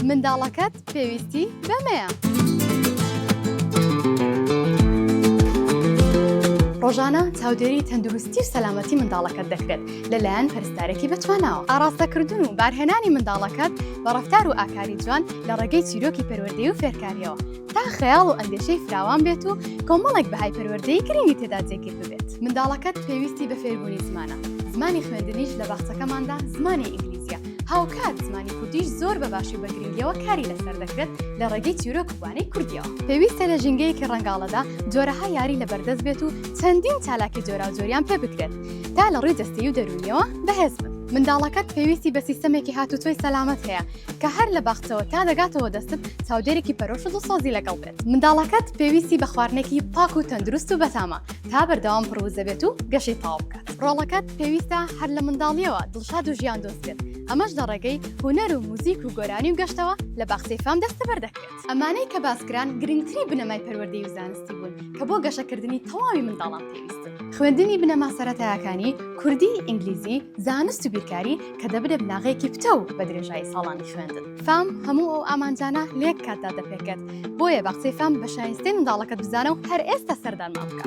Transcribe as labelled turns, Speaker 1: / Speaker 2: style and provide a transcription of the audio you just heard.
Speaker 1: منداڵەکەت پێویستی بەمەیە. ڕۆژانە چاودێری تەندروستی و سەلامەتی منداڵەکەت دەکرێت لەلایەن پەرستارێکی بەتواناوە ئاراستەکردن و بارهێنانی منداڵەکەت بە ڕفتار و ئاکاری جوان لە ڕێگەی چیرۆکی پەروەردەی و فێرکاریەوە تا خەیاڵ و ئەندێشەی فراوان بێت و کۆمەڵێک بەهای پەروەردەی گرنگی تێدا جێگیر ببێت منداڵەکەت پێویستی بە فێربوونی زمانە زمانی خوێندنیش لە باخچەکەماندا زمانی ئینگلیزیە هاوکات زمانی کوردیش زۆر بە باشی بە گرنگیەوە کاری لەسەر دەکرێت لە ڕێگەی چیرۆک وانەی کوردیەوە پێویستە لە ژینگەیەکی ڕەنگاڵەدا جۆرەها یاری لە بەردەست بێت و چەندین چالاکی جۆراوجۆریان پێ بکرێت تا لە ڕووی جەستەی و دەرونیەوە بەهێز بن منداڵەکەت پێویستی بە سیستەمێکی هاتوچۆی سەلامەت هەیە کە هەر لە باخچەوە تا دەگاتەوە دەستت چاودێرێکی پەرۆش و سۆزی لەگەڵ بێت منداڵەکەت پێویستی بە خواردنێکی پاک و تەندروست و بەتامە تا بەردەوام پڕوزەبێت و گەشەی تاو بکە ڕۆڵەکەت پێویستە هەر لە منداڵیەوە دڵشاد و ژیان دۆست بێت ئەمەش لە ڕێگەی هوەر و موزیک و گۆرانی و گەشتەوە لە باخسی فام دەستە بەردەکرێت ئەمانەی کە باسکران گرنگتری بنەمای پەروەردەی و زانستی بوون کە بۆ گەشەکردنی تەواوی منداڵان پێویست خوێندنی بنەما سەرەتایەکانی کوردی ئینگلیزی زانست و بیرکاری کە دەبنە بناغەیەکی پتەو بە درێژایی ساڵانی خوێندن. فام هەموو ئەو ئامانجانە لەیەک کاتدا دەپێکێت بۆیە بە قسەی فام بە شایستەی منداڵەکەت بزانە و هەر ئێستا سەردانمان بکە.